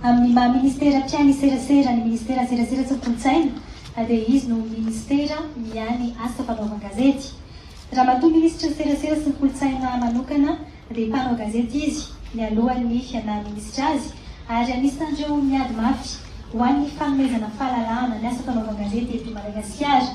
Amin'ny maha ministera mpiahy ny serasera ny ministeran'ny serasera sy ny kolontsaina dia izy no ministera miahy ny asa fanaovan-gazety. Ramatoa minisitry ny serasera sy ny kolontsaina manokana, dia mpanao gazety izy nialohan'ny fiadan'ny minisitra azy ary anisan'ireo miady mafy ho an'ny fanomezana fahalalahana ny asa fanaovan-gazety eto Madagasikara.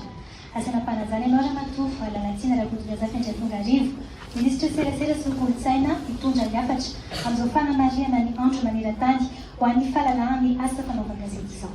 Asa nampanajana ianao Ramatoa Lalatiana Rakotondrazafi Andriatongarivo, minisitry ny serasera sy ny kolontsaina hitondra ny hafatra amin'izao fanamarihana ny andro manerantany ho an'ny fahalalahan'ny asa fanaovan-gazety izao.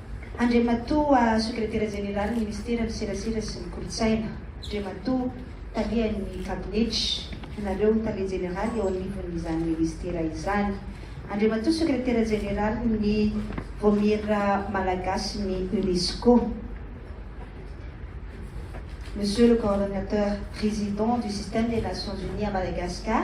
Andriamatoa Sekretera Jeneralin'ny Minisiteran'ny Serasera sy ny Kolontsaina, Andriamatoa Talian'ny Kabinetra, Ianareo Tale Jeneraly eo anivon'izany Minisitera izany, Andriamatoa Sekretera Jeneralin'ny Vaomiera Malagasin'ny UNESCO, Monsieur le Coordonnateur Président du Système des Nations Unies à Madagascar,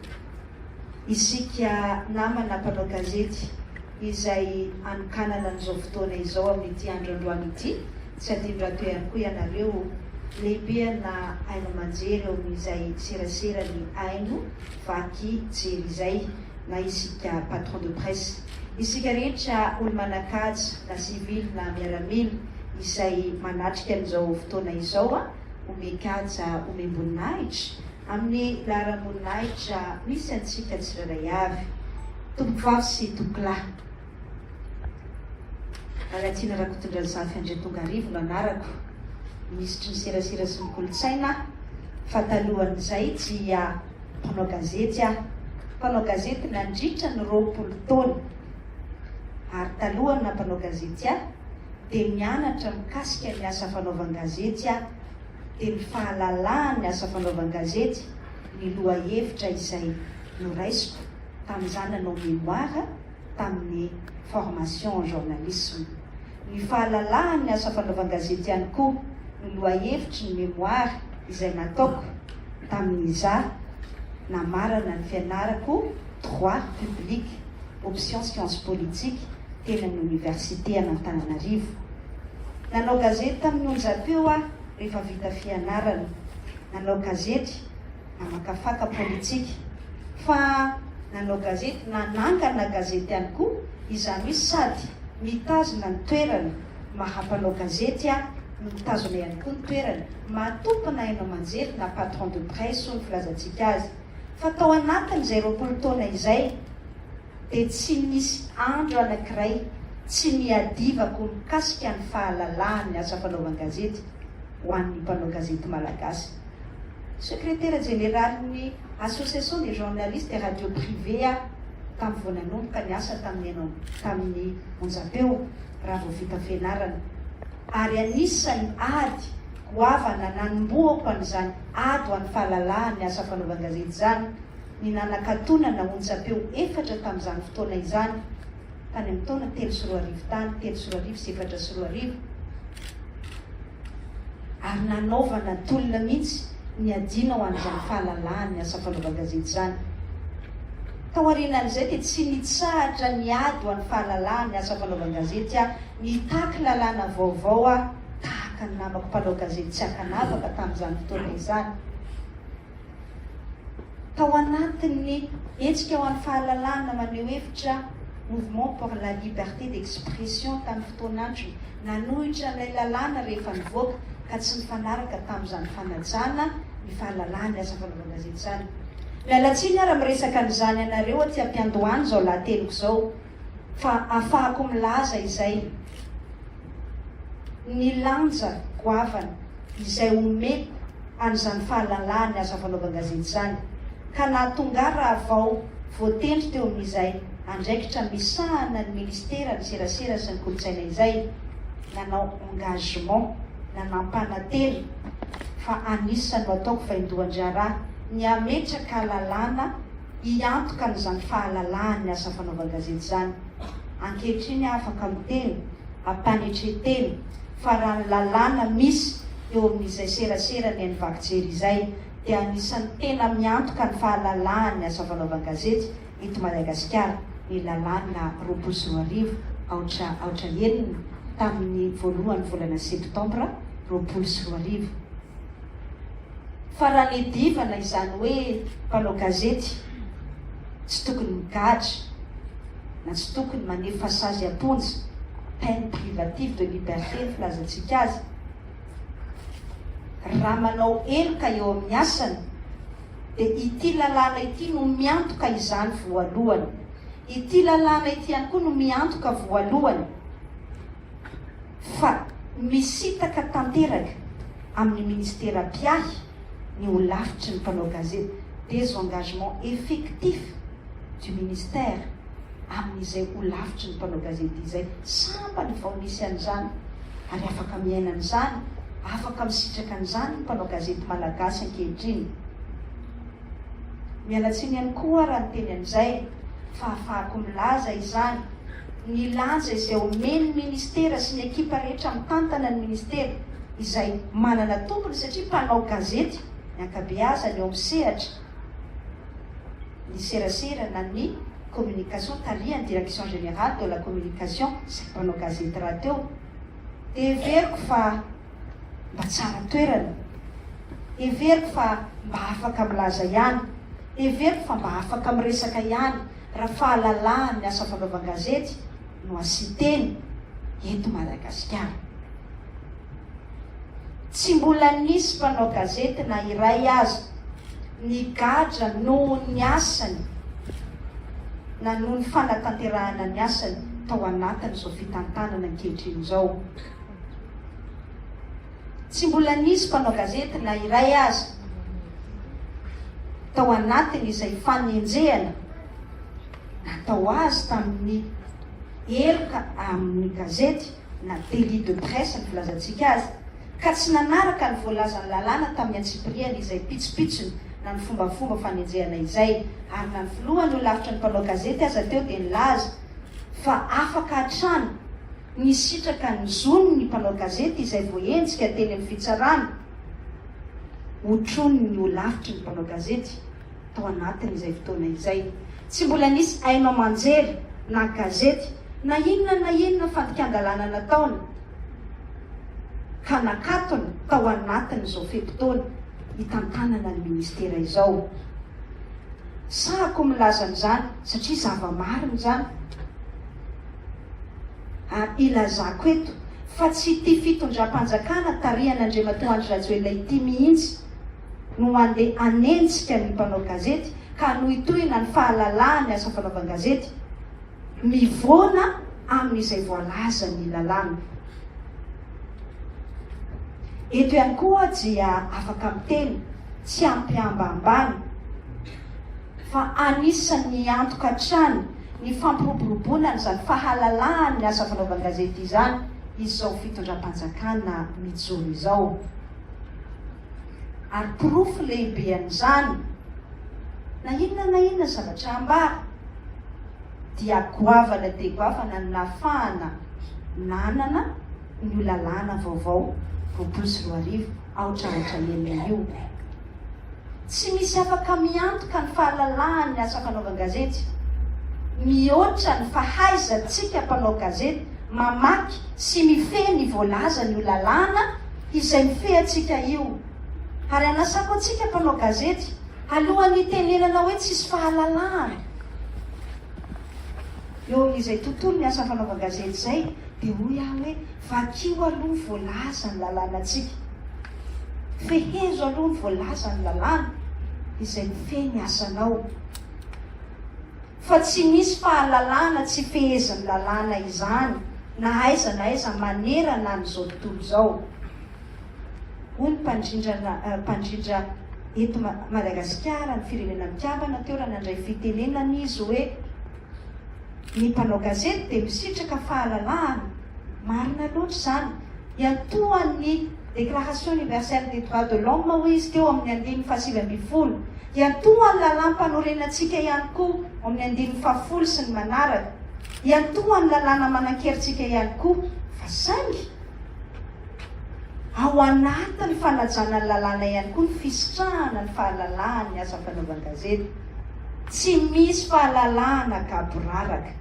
Isika namana mpanao gazety izay anokanana an'izao fotoana izao amin'ity andro androany ity, tsy adino-dRato ihany koa ianareo lehibeanna haino aman-jery eo amin'izay serasera ny haino vaky jery izay na isika patron de presse, isika rehetra olo-manan-kaja na sivily na miaramila izay manatrika an'izao fotoana izao, omem-kaja, omem-boninahitra Amin'ny laharam-boninahitra misy antsika tsirairay avy, Tompom-pivavy sy Tompolahy. Lalatiana Rakotondrazafy Andriatongarivo no anarako, Minisitry ny Serasera sy ny Kolontsaina aho, fa talohan'izay dia mpanao gazety aho, mpanao gazety nandritra ny roapolo taona. Ary talohan'ny nampanao gazety ahy, dia nianatra mikasika ny asa fanaovan-gazety aho. dia ny fahalalahan'ny asa fanaovan-gazety ny lohahevitra izay noraisiko tamin'izaho nanao mémoire tamin'ny formation en journalisme. Ny fahalalahan'ny asa fanaovan-gazety ihany koa no lohahevitry ny mémoire izay nataoko tamin'izaho namarana ny fianarako droit public, option sciences politiques, teny amin'ny oniversite an'Antananarivo. Nanao gazety tamin'ny onja teo aho rehefa vita fianarana. Nanao gazety namakafaka politika. Fa nanao gazety nanangana gazety ihany koa, izany hoe sady mitazona ny toerana maha mpanao gazety aho no mitazona ihany koa ny toerana maha tompona haino aman-jery na patron de presse hoy ny filazantsika azy. Fa tao anatin'izay roapolo taona izay, dia tsy misy andro anankiray tsy niadivako mikasika ny fahalalahan'ny asa fanaovan-gazety ho an'ny mpanao gazety malagasy. Sekretera jeneralin'ny Association des journalistes et radios privées aho tamin'ny vao nanomboka ny asa tamin'ny enina tamin'ny onjam-peo raha vao vita fianarana, ary anisan'ny ady goavana nanombohako an'izany ady ho an'ny fahalalahan'ny asa fanaovan-gazety izany. ny nanakatonana onjampeo efatra tamin'izany fotoana izany, tany amin'ny taona telo sy roa arivo tany, telo sy roa arivo sy efatra sy roa arivo, ary nanaovana tolona mihitsy ny adiana ho an'izany fahalalahan'ny asa fanaovan-gazety izany. Tao aorianan'izay dia tsy nitsahatra niady ho an'ny fahalalahan'ny asa fanaovan-gazety aho, nitaky lalàna vaovao aho, tahaka ny namako mpanao gazety tsy ankanavaka tamin'izany fotoana izany. Tao anatin'ny hetsika ho an'ny fahalalahana maneho hevitra Mouvement pour la liberté d'expression tamin'ny fotoan'androny, nanohitra ilay lalàna rehefa nivoaka ka tsy nifanaraka tamin'izany fanajana ny fahalalahan'ny asa fanaovan-gazety izany. Miala tsiny aho raha miresaka an'izany anareo aty am-piandohan'izao lahateniko izao. fa afahako milaza izay ny lanja goavana izay omeko an'izany fahalalahan'ny asa fanaovan-gazety izany, ka nahatonga raha vao voatendry teo amin'izay andraikitra misahana ny Ministeran'ny Serasera sy ny Kolontsaina izay nanao engagement na nampanantena fa anisan'ny ho ataoko vaindohan-draharaha ny hametraka lalàna Hiantoka an'izany fahalalahany ny asa fanaovan-gazety izany. Ankehitriny aho afaka miteny, am-panetren-tena, fa raha ny lalàna misy eo amin'izay serasera ny an'ny vaky jery izay dia anisan'ny tena miantoka ny fahalalahan'ny asa fanaovan-gazety eto Madagasikara ny lalàna roapolo sy roa arivo aotra aotra enina tamin'ny voalohan'ny volana septambra roapolo sy roa arivo. fa raha nedivana izany hoe mpanao gazety tsy tokony migadra na tsy tokony manefa sazy am-ponja, peine privative de liberté ny filazantsika azy, raha manao heloka eo amin'ny asany dia ity lalàna ity no miantoka izany voalohany. Ity lalàna ity ihany koa no miantoka voalohany fa misintaka tanteraka amin'ny ministera mpiahy ny holafitry ny mpanao gazety, désengagement effectif du ministère amin'izay holafitry ny mpanao gazety izay. Sambany vao nisy an'izany ary afaka miaina an'izany, afaka misitraka an'izany ny mpanao gazety malagasy ankehitriny. Miala tsiny ihany koa raha niteny an'izay, fa afahako milaza izany, ny lanja izay omen'ny ministera sy ny ekipa rehetra mitantana ny ministera, izay manana tompony satria mpanao gazety ny ankabeazany eo amin'ny sehatra ny serasera na ny communication tarihan'ny direction générale de la communication sy ny mpanao gazety rahateo, dia heveriko fa. mba tsara toerana? Heveriko fa mba afaka milaza ihany, heveriko fa mba afaka miresaka ihany raha fahalalahan'ny asa fandoavan-gazety no asin-teny eto Madagasikara. Tsy mbola nisy mpanao gazety na iray aza nigadra noho ny asany na noho ny fanatanterahana ny asany tao anatin'izao fitantanana ankehitriny izao. Tsy mbola nisy mpanao gazety na iray aza tao anatiny izay fanenjehana natao azy tamin'ny heloka amin'ny gazety na délit de presse ny filazantsika azy ka tsy nanaraka ny voalazan'ny lalàna tamin'ny antsipiriany izay pitsopitsony na ny fombafomba fanenjehana izay ary na ny filohan'ny holavitry ny mpanao gazety aza teo dia nilaza fa afaka hatrany Nisitraka ny zony ny mpanao gazety izay voaenjika teny amin'ny fitsarana. Otronin'ny holafitry ny mpanao gazety tao anatin'izay fotoana izay. Tsy mbola nisy haino aman-jery na gazety na inona na inona fandikan-dalàna nataony ka nakatona tao anatin'izao fe-potoana itantanana ny ministera izao. Sahako milaza an'izany satria zava-marina izany. Ary ilazako eto fa tsy ity fitondram-panjakana tarihan'Andriamatoa Andry Rajoelina ity mihitsy no handeha hanenjika ny mpanao gazety ka hanohitohina ny fahalalahan'ny asa fanaovan-gazety mivoana amin'izay voalazan'ny lalàna. Eto ihany koa dia afaka miteny tsy am-pihambahambana. fa anisan'ny miantoka hatrany ny fampiroboroboana an'izany fahalalahan'ny asa fanaovan-gazety izany izao fitondram-panjakana mijoro izao. Ary porofo lehibe an'izany, na inona na inona zavatra ambara, dia goavana dia goavana ny nahafahana nanana an'io lalàna vaovao roapolo sy roa arivo aotra aotra enina io. Tsy misy afaka miantoka ny fahalalahan' ny asa fanaovan-gazety mihoatra ny fahaizantsika mpanao gazety mamaky sy mifehy ny voalazan' io lalàna izay mifehy antsika io, ary anasako antsika mpanao gazety alohan' ny hitenenana hoe tsisy fahalalahan eo amin' izay tontolon' ny asa fanaovan-gazety izay dia hoy aho hoe Vakio aloha voalaza ny lalànantsika. Fehezo aloha ny voalaza ny lalàna izay mifehy ny asanao. Fa tsy misy fahalalana tsy fehezin'ny lalàna izany na aiza na aiza manerana an'izao tontolo izao, hoy ny mpandrindra eto Madagasikara, ny Firenena Mikambana, teo raha nandray fitenenana izy hoe. Ny mpanao gazety dia misitraka fahalalahana, marina loatra izany, hiantohan'ny Déclaration Universelle des Droits de l'Homme hoy izy teo amin'ny andininy fahasivy ambin'ny folo, hiantohan'ny lalàm-panorenantsika ihany koa ao amin'ny andininy fahafolo sy ny manaraka, hiantohan'ny lalàna manan-kerintsika ihany koa, fa saingy ao anatin'ny fanajana ny lalàna ihany koa ny fisitrahana ny fahalalahan'ny asa fanaovan-gazety. Tsy misy fahalalahana gaboraraka.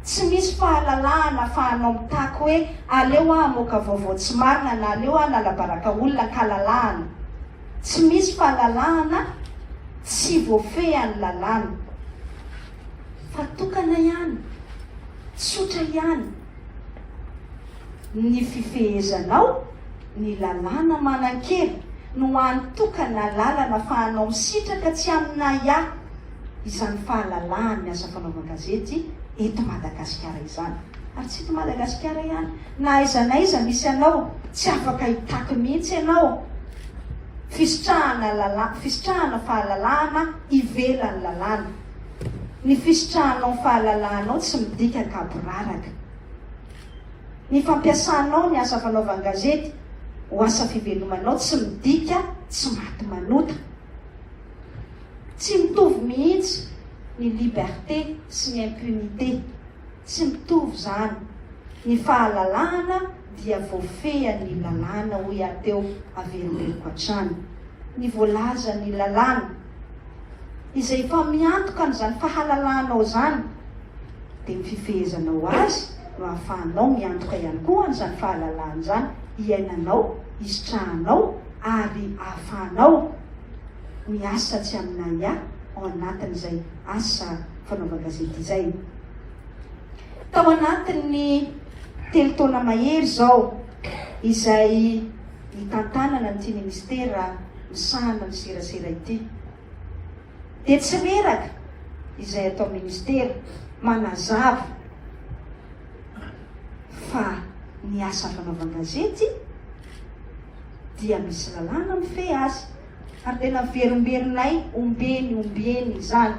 Tsy misy fahalalahana fa anao mitaky hoe aleo aho hamoaka vaovao tsy marina na aleo aho hanalabaraka olona ankalalahana. Tsy misy fahalalahana tsy voafehan'ny lalàna. Fa tokana ihany. Tsotra ihany. Ny fifehezanao ny lalàna manan-kery no hany tokana lalana afahanao misitraka tsy amin'aia izany fahalalahan'ny asa fanaovan-gazety eto Madagasikara izany. Ary tsy eto Madagasikara ihany, na aiza na aiza misy anao, tsy afaka hitaky mihitsy ianao fisitrahana lalàna, fisitrahana fahalalahana ivelan'ny lalàna. Ny fisitrahanao ny fahalalahanao tsy midika an-kaboraraka. Ny fampiasanao ny asa fanaovan-gazety ho asa fivelomanao tsy midika tsy maty manota. Tsy mitovy mihitsy ny liberté sy ny impunité. Tsy mitovy izany. Ny fahalalahana dia voafehin'ny lalàna, hoy aho teo, averimberiko hatrany ny voalazan'ny lalàna. Izay efa miantoka an'izany fahalalahanao izany, dia ny fifehezanao azy no ahafahanao miantoka ihany koa an'izany fahalalahana izany iainanao, isitrahanao ary ahafahanao miasa tsy amin'ahiahy ao anatin'izay. asa fanaovan-gazety izay. Tao anatin'ny telo taona mahery izao izay nitantanana an'ity ministera misahana ny serasera ity, dia tsy reraka izay atao ministera manazava fa ny asa fanaovan-gazety dia misy lalàna mifehy azy. Ary dia naverimberinay ombieny ombieny izany.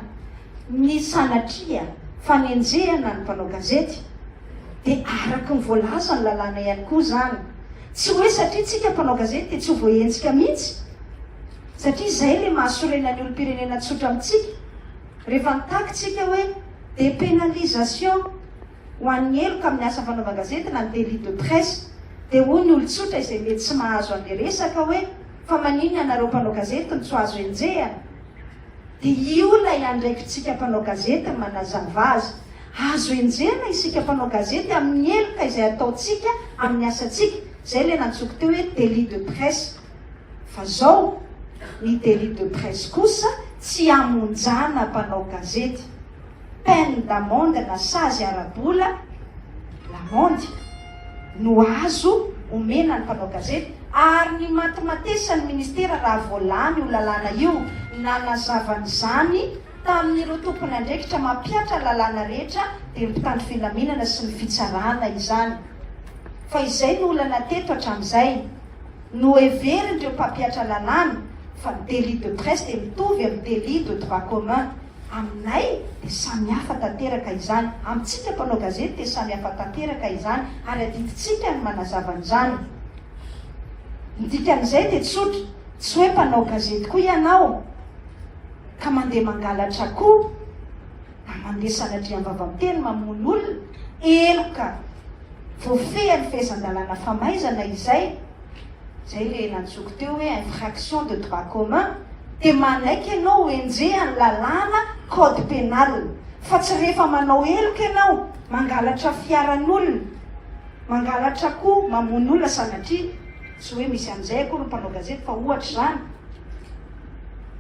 Ny sanatria fanenjehana ny mpanao gazety dia araka ny voalazan'ny lalàna ihany koa izany. Tsy hoe satria isika mpanao gazety dia tsy ho voaenjika mihitsy, satria izay ilay mahasorena ny olom-pirenena tsotra amintsika. Rehefa nitaky isika hoe dépénalisation. ho an'ny heloka amin'ny asa fanaovan-gazety na ny délit de presse, dia hoy ny olon-tsotra izay mety tsy mahazo an'ilay resaka hoe, fa maninona ianareo mpanao gazety no tsy ho azo enjehina? Dia io ilay andraikitsika mpanao gazety ny manazava azy. Azo enjehina isika mpanao gazety amin'ny heloka izay ataontsika amin'ny asantsika, izay ilay nantsoiko teo hoe délit de presse. Fa izao, ny délit de presse kosa tsy hamonjana mpanao gazety. peine d'amende na sazy ara-bola, lamandy, no azo omena ny mpanao gazety ary ny matimatesan'ny ministera raha vao lany io lalàna io nanazava an'izany tamin'ireo tompon'andraikitra mampihatra lalàna rehetra dia ny mpitandro filaminana sy ny fitsarana izany fa izay no olana teto hatramin'izay noheverin'ireo mpampihatra lalàna fa ny délit de presse dia mitovy amin'ny délit de droit commun Aminay dia samy hafa tanteraka izany, amintsika mpanao gazety dia samy hafa tanteraka izany ary adidintsika ny manazava an'izany. Ny dikan'izay dia tsotra, tsy hoe mpanao gazety koa ianao ka mandeha mangalatra akoho na mandeha sanatria am-bavan-teny mamono olona, elo ka! Voafehin'ny fehezan-dalàna famaizana izay. Zay le nantsoiko teo hoe infraction de droit commun de manaiky ianao ho enjehan'ny lalàna code pénal fa tsy rehefa manao heloka ianao mangalatra fiaran'olona mangalatra akoho mamono olona sanatria tsy hoe misy an'izay akory ny mpanao gazety fa ohatra izany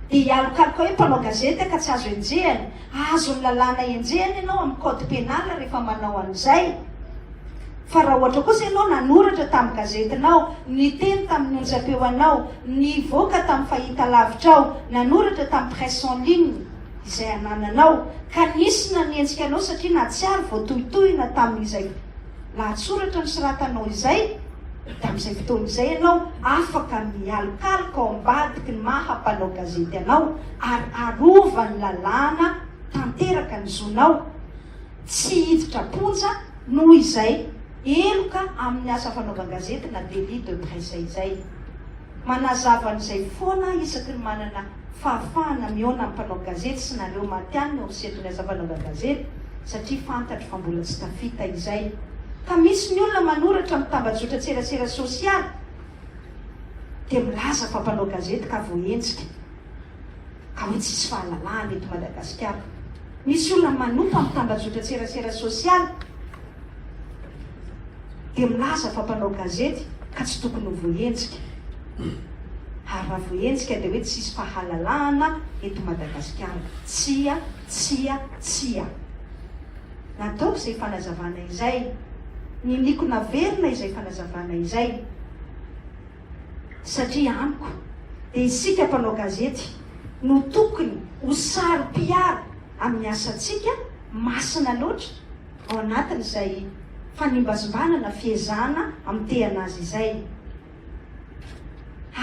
dia hialokaloka hoe mpanao gazety ka tsy azo enjehana azon'ny lalàna enjehana ianao amin'ny code pénal rehefa manao an'izay Fa raha ohatra kosa ianao nanoratra tamin'ny gazetinao, niteny tamin'ny onjam-peoanao, nivoaka tamin'ny fahitalavitrao, nanoratra tamin'ny presse en ligne izay anananao, ka nisy nanenjika anao satria nahatsiaro voatohitohina tamin'izay lahatsoratra nosoratanao izay, dia amin'izay fotoana izay ianao afaka mialokaloka ao ambadiky ny maha mpanao gazety anao ary arovan'ny lalàna tanteraka ny zonao. Tsy hiditra am-ponja noho izay heloka amin'ny asa fanaovan-gazety na délit de presse izay. Manazava an'izay foana isaky ny manana fahafahana mihaona amin'ny mpanao gazety sy nareo matihanina eo miseto ny asa fanaovan-gazety satria fantatro fa mbola tsy tafita izay. Ka misy ny olona manoratra amin'ny tambajotran-tserasera sosialy dia milaza fa mpanao gazety ka voaenjika. ary hoe tsisy fahalalahana eto Madagasikara. Misy olona manompa amin'ny tambajotran-tserasera sosialy dia milaza fa mpanao gazety ka tsy tokony ho voahenjika. Ary raha voahenjika dia hoe tsisy fahalalahana eto Madagasikara. Tsia, tsia, tsia. Nataoko izay fanazavana izay. Niniako naverina izay fanazavana izay. satria amiko dia isika mpanao gazety no tokony ho saro-piaro amin'ny asantsika masina loatra ao anatin'izay fanimbazimbana na fiezahana amitehana azy izay.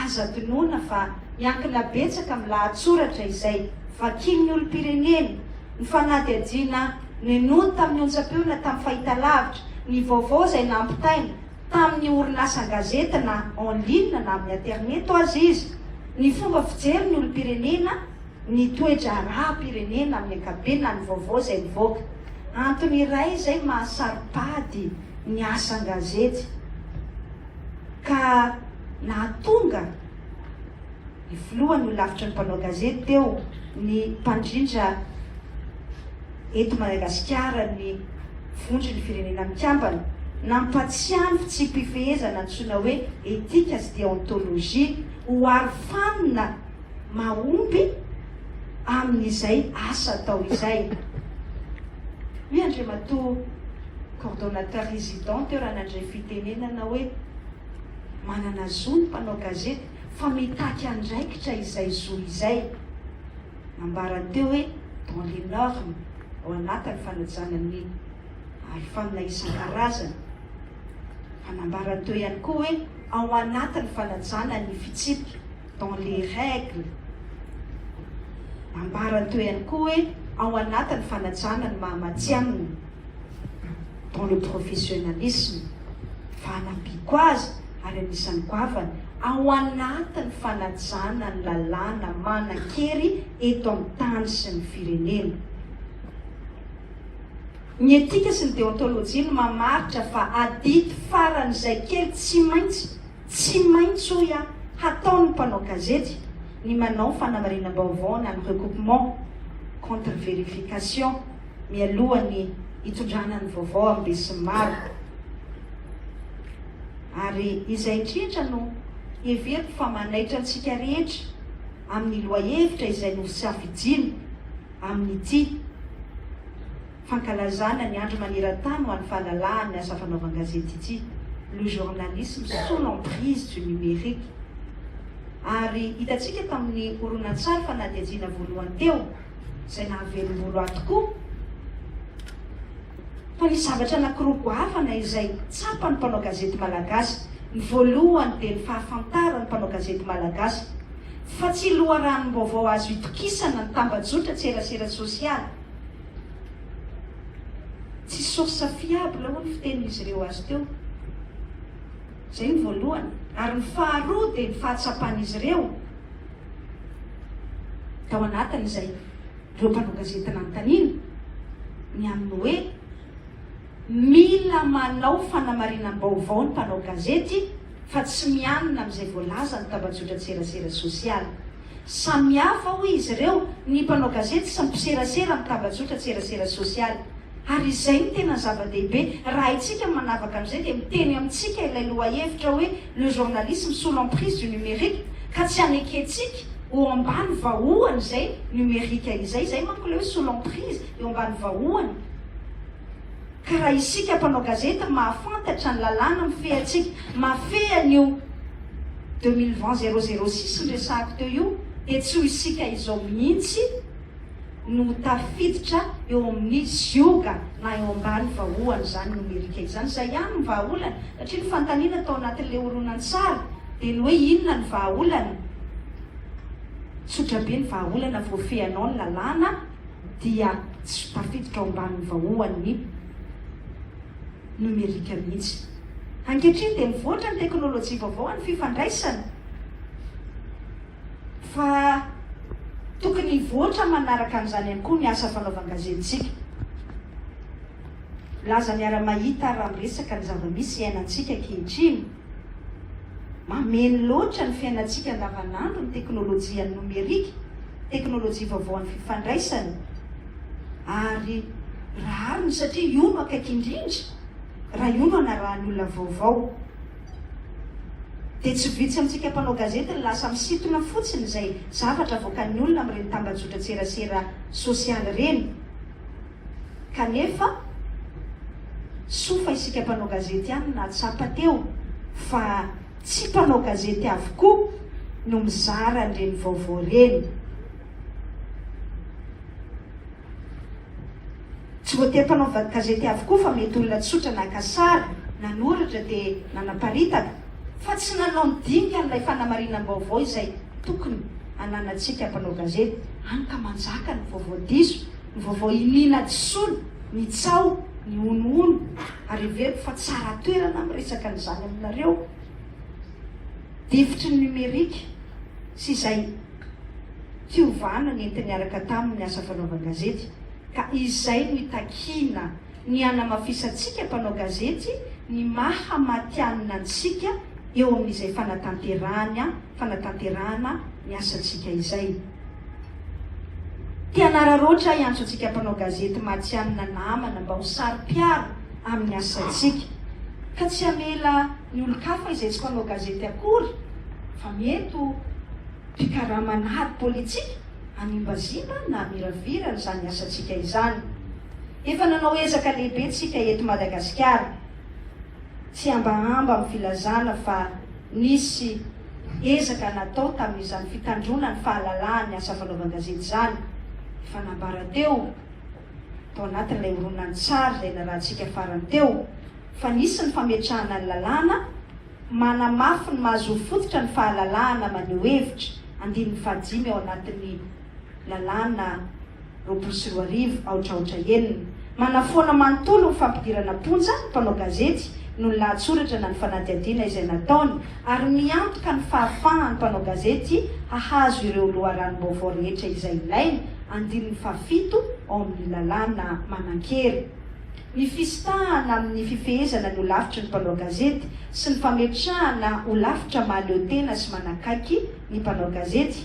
Aza adinoina fa miankina betsaka amin'ny lahatsoratra izay vakian'ny olom-pirenena, ny fanadihadiana nenoiny tamin'ny onjam-peo na tamin'ny fahitalavitra, ny vaovao izay nampitaina, tamin'ny orinasa an-gazety na en ligne na amin'ny aterineto aza izy, ny fomba fijery ny olom-pirenena, ny toe-draharaham-pirenena amin'ny ankapobeny na ny vaovao izay mivoaka. Antony iray izay maha saro-pady ny asa an-gazety ka nahatonga. Ny filohany no lavitra ny mpanao gazety teo, ny mpandrindra eto Madagasikara, ny vondron' ny Firenena Mikambana. Nampatsiahy ny fitsipi-pifehezana antsoina hoe etika sy deontolojia ho arofanina mahomby amin' izay asa atao izay. Hoy Andriamatoa Coordonnateur Résident teo raha nandray fitenenana hoe, Manana zo ny mpanao gazety fa mitaky andraikitra izay zo izay. Nambarany teo hoe dans les normes, ao anatin'ny fanajana ny arofanina isan-karazany. Fa nambarany teo ihany koa hoe ao anatin'ny fanajana ny fitsipika, dans les règles. Nambarany teo ihany koa hoe ao anatin'ny fanajana ny maha matihanina. dans le professionnalisme, fanampiako azy ary anisan'ny goavana ao anatin'ny fanajana ny lalàna manan-kery eto amin'ny tany sy ny firenena. Ny etika sy ny deontolojia no mamaritra fa adidy faran'izay kely tsy maintsy Tsy maintsy hoy aho, hataon'ny mpanao gazety ny manao fanamarinam-baovao na ny recoupement, contre verification, mialohan'ny hitondrana ny vaovao amin'ny besinimaro. Ary izay indrindra no heveriko fa manaitra antsika rehetra amin'ny lohahevitra izay nosafidiana amin'ity. fankalazana ny andro maneran-tany ho an'ny fahalalahan'ny asa fanaovan-gazety ity, Le journalisme sous l'emprise du numérique. Ary hitantsika tamin'ny horonantsary fanadihadiana voalohany teo, izay nahavelom-bolo ahy tokoa, fa nisy zavatra anankiroa goavana izay tsapan'ny mpanao gazety malagasy. Ny voalohany dia ny fahafantaran'ny mpanao gazety malagasy fa tsy loharanom-baovao azo itokisana ny tambajotra an-tserasera sosialy, Tsy source fiable hoy ny fitenin'izy ireo azy teo. Izay ny voalohany. Ary ny faharoa dia ny fahatsapan'izy ireo tao anatin' izay ireo mpanao gazety nanontaniana ny amin'ny hoe mila manao fanamarinam-baovao ny mpanao gazety fa tsy mianina amin'izay voalazan'ny tambajotran-tserasera sosialy. Samihafa, hoy izy ireo, ny mpanao gazety sy ny mpiserasera amin'ny tambajotran-tserasera sosialy. Ary izay no tena zava-dehibe. Raha haintsika ny manavaka an'izay, dia miteny amintsika ilay lohahevitra hoe Le journalisme sous l'emprise du numérique, ka tsy hanekentsika ho ambany vahohany izay numerika izay. Izay manko ilay hoe sous l'emprise, eo ambany vahohany. Ka raha isika mpanao gazety mahafantatra ny lalàna mifehy antsika, mahafehy an'io deux mille vingt zéro zéro six niresahako teo io, dia tsy ho isika izao mihitsy no ho tafiditra eo amin'ny zioga na eo ambany vahoan'izany nomerika izany. Izay ihany no vahaolana, satria ny fanontaniana tao anatin'ilay horonantsary dia ny hoe inona ny vahaolana? Tsotra be ny vahaolana voafehy anao ny lalàna. dia tsy tafiditra ao ambanin'ny vaoan'ny nomerika mihitsy. Ankehitriny dia mivoatra ny teknolojia vaovao amin'ny fifandraisana fa tokony hivoatra manaraka an'izany ihany koa ny asa fanaovan-gazetintsika. Laza miara-mahita raha miresaka ny zava-misy iainantsika ankehitriny. Mameno loatra ny fiainantsika andavanandro ny teknolojian'ny nomerika, teknolojia vaovao an'ny fifandraisana, ary rariny satria io no akaiky indrindra, raha io no anarahan'ny olona vaovao. Dia tsy vitsy amintsika mpanao gazety no lasa misintona fotsiny izay zavatra avoakan'ny olona amin'ireny tambajotran-tserasera sosialy ireny. kanefa soa fa isika mpanao gazety ihany nahatsapa teo fa tsy mpanao gazety avokoa no mizara an'ireny vaovao ireny. Tsy voatery mpanao gazety avokoa fa mety olona tsotra naka sary, nanoratra dia nanaparitaka fa tsy nanao ny dingan'ilay fanamarinam-baovao izay tokony hananantsika mpanao gazety, hany ka manjaka ny vaovao diso. Ny vaovao iniana disoana, ny tsaho, ny honohono, ary heveriko fa tsara toerana miresaka an'izany aminareo, difotry ny nomerika sy izay fiovana nenti-niaraka taminy asa fanaovan-gazety, ka izay no itakiana ny hanamafisantsika mpanao gazety ny maha matihanina antsika eo amin'izay fanatanterahana fanatanterahana ny asantsika izay. Mpianararaotra ahy antso antsika mpanao gazety matihanina namana mba ho saro-piaro amin'ny asantsika, ka tsy hamela ny olon-kafa izay tsy mpanao gazety akory fa mety ho mpikarama an'ady politika hanimbazimba na hamiravira an'izany asantsika izany. Efa nanao ezaka lehibe tsika eto Madagasikara, tsy hambahamba amin'ny filazana fa nisy. Ezaka natao tamin'izany fitandroana ny fahalalahan'ny asa fanaovan-gazety izany, efa nambara teo, tao anatin'ilay horonantsary izay narahantsika farany teo, fa nisy ny fametrahana ny lalàna manamafy ny maha-zoro fototra ny fahalalahana maneho hevitra, andininy fahadimy ao anatin'ny. lalàna roapolo sy roa arivo aotraotra enina. Manafoana manontolo ny fampidirana am-ponja ny mpanao gazety noho ny lahatsoratra na ny fanadihadiana izay nataony ary miantoka ny fahafahan'ny mpanao gazety hahazo ireo loharanom-baovao rehetra izay ilainy, andininy fahafito ao amin'ny lalàna manan-kery. Ny fisintahana amin'ny fifehezana ny holafitry ny mpanao gazety sy ny fametrahana holafitra mahaleo tena sy manakaiky ny mpanao gazety.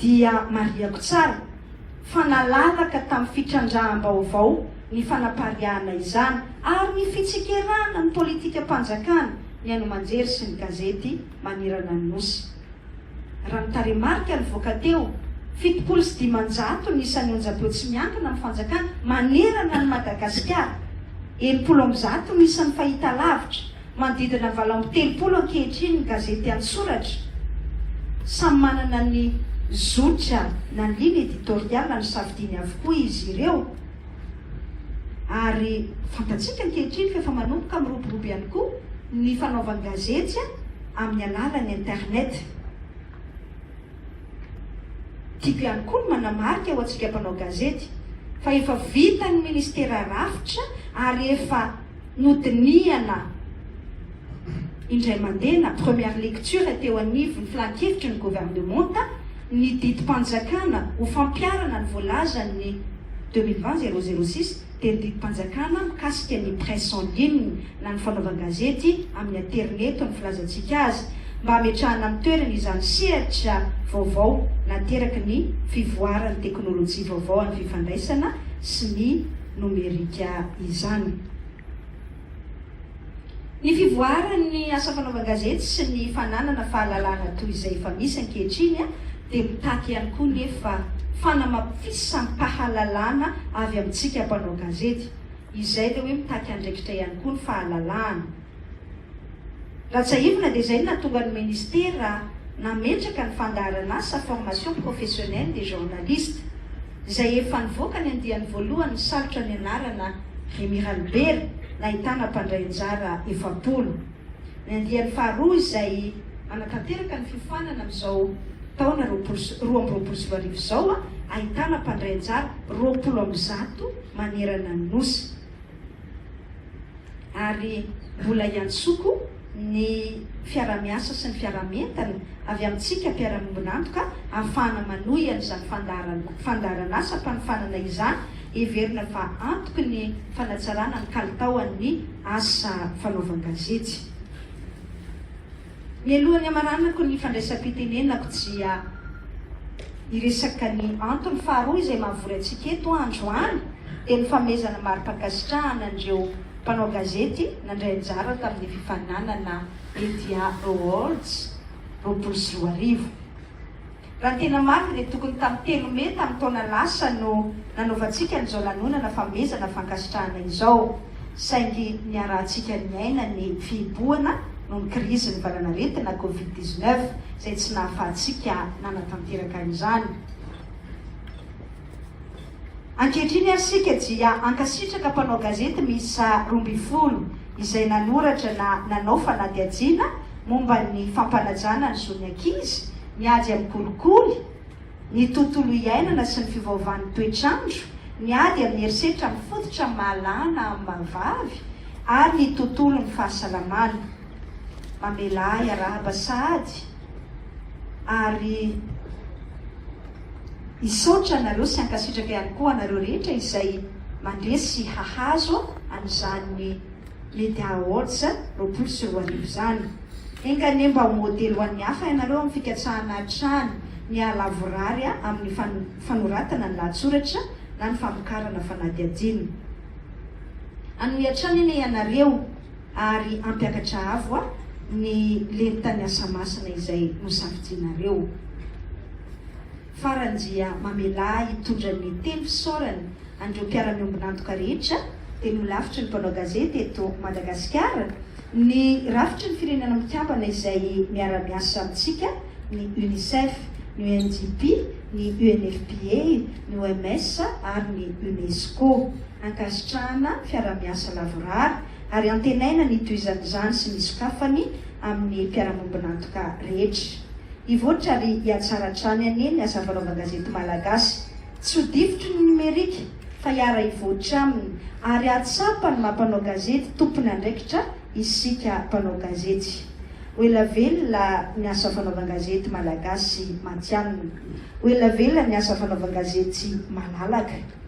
dia marihako tsara fa nalalaka tamin'ny fitrandraham-baovao ny fanapariahana izany ary ny fitsikerana ny politikam-panjakana ny haino aman-jery sy ny gazety manerana ny Nosy. Raha ny tarehimarika nivoaka teo, fitopolo sy dimanjato ny isan'ny onjampeo tsy miankina amin'ny fanjakana manerana an'i Madagasikara, enimpolo amby zato ny isan'ny fahitalavitra, Manodidina valo amby telopolo ankehitriny ny gazety an-tsoratra. Samy manana ny zotra na ligne editoriale nosafidiany avokoa izy ireo. Ary fantatsika ankehitriny fa efa manomboka miroborobo ihany koa ny fanaovan-gazety amin'ny alalan'ny internet. Tiako ihany koa ny manamarika ho antsika mpanao gazety fa efa vitan'ny Ministera rafitra ary efa. Nodinihana indray mandeha na première lecture teo anivon'ny Filan-kevitry ny Governemanta ny didim-panjakana ho fampiharana ny voalazan'ny deux mille vingt zéro zéro six dia ny didim-panjakana mikasika ny presse en ligne na ny fanaovan-gazety amin'ny aterineto ny filazantsika azy mba hametrahana amin'ny toerany izany sehatra vaovao nateraky ny fivoaran'ny teknolojia vaovao an'ny fifandraisana sy ny nomerika izany. Ny fivoaran'ny asa fanaovan-gazety sy ny fananana fahalalana toy izay efa misy ankehitriny dia mitaky ihany koa nefa fanamafisam-pahalalana avy amintsika mpanao gazety. Izay dia hoe mitaky andraikitra ihany koa ny fahalalahana. Raha tsiahivina dia izay no nahatonga ny Ministera nametraka ny fandaharan'asa, formation professionnelle des journalistes, izay efa nivoaka ny andiany voalohany nisalotra ny anarana Ry Miralibera nahitana mpandray anjara efapolo. Ny andiany faharoa izay manatanteraka ny fiofanana amin'izao taona roapolo sy roa amby roapolo sy roa arivo izao ahitana mpandray anjara roapolo amby zato manerana ny Nosy. ary mbola hiantsoko ny fiarahamiasa sy ny fiaraha-mientana avy amintsika mpiara-miombon'antoka ahafahana manohy an'izany fandaharan fandaharan'asam-panofanana izany heverina fa antoky ny fanatsarana ny kalitaoan'ny asa fanaovan-gazety. Mialohan'ny hamaranako ny fandraisam-pitenenako dia hiresaka ny antony faharoa izay mahavory antsika eto androany dia ny fanomezana mari-pankasitrahana an'ireo mpanao gazety nandray anjara tamin'ny fifaninanana Media Awards roapolo sy roa arivo. Raha ny tena marina dia tokony tamin'ny telo mey tamin'ny taona lasa no nanaovantsika an'izao lanonana famehezana fankasitrahana izao, saingy niarahantsika niaina ny fihibohana noho ny krizin'ny valanaretina covid dix-neuf izay tsy nahafahantsika nanatanteraka izany. Ankehitriny ary isika dia hankasitraka mpanao gazety miisa roa ambin'ny folo izay nanoratra na nanao fanadihadiana momba ny fampanajana ny zon'ny ankizy, ny ady amin'ny kolikoly, ny tontolo iainana sy ny fiovaovan'ny toetr'andro, ny ady amin'ny herisetra mifototra amin'ny maha lahy na amin'ny maha vavy ary ny tontolon'ny fahasalamana. Mamelà hiarahaba sahady ary. Hisaotra anareo sy hankasitraka ihany koa anareo rehetra izay mandresy sy hahazo an'izany Media Awards roapolo sy roa arivo izany. Enga anie mba ho modely ho an'ny hafa ianareo amin'ny fikatsahana hatrany ny hahalavorary amin'ny fanoratana ny lahatsoratra na ny famokarana fanadihadiana. Hanohy hatrany anie ianareo ary hampiakatra avo a ny lentan'ny asa masina izay nosafidianareo. Farany dia mamelà hitondra ny teny fisaorany an'ireo mpiara-miombon'antoka rehetra, dia nolafitry ny mpanao gazety eto Madagasikara ny rafitry ny Firenena Mikambana izay miara-miasa amintsika, ny UNICEF, ny UNDP, ny UNFPA, ny OMS ary ny UNESCO. ankasitrahana fiaraha-miasa lavorary ary antenaina ny hitohizan'izany sy ny sokafany amin'ny mpiara-mombon'antoka rehetra. Hivoatra ary hihatsara hatrany anie ny asa fanaovan-gazety malagasy, tsy ho difotry ny nomerika fa hiara-hivoatra aminy ary hahatsapa ny maha mpanao gazety tompon' andraikitra isika mpanao gazety. Ho ela velona ny asa fanaovan-gazety malagasy matihanina. Ho ela velona ny asa fanaovan-gazety malalaka.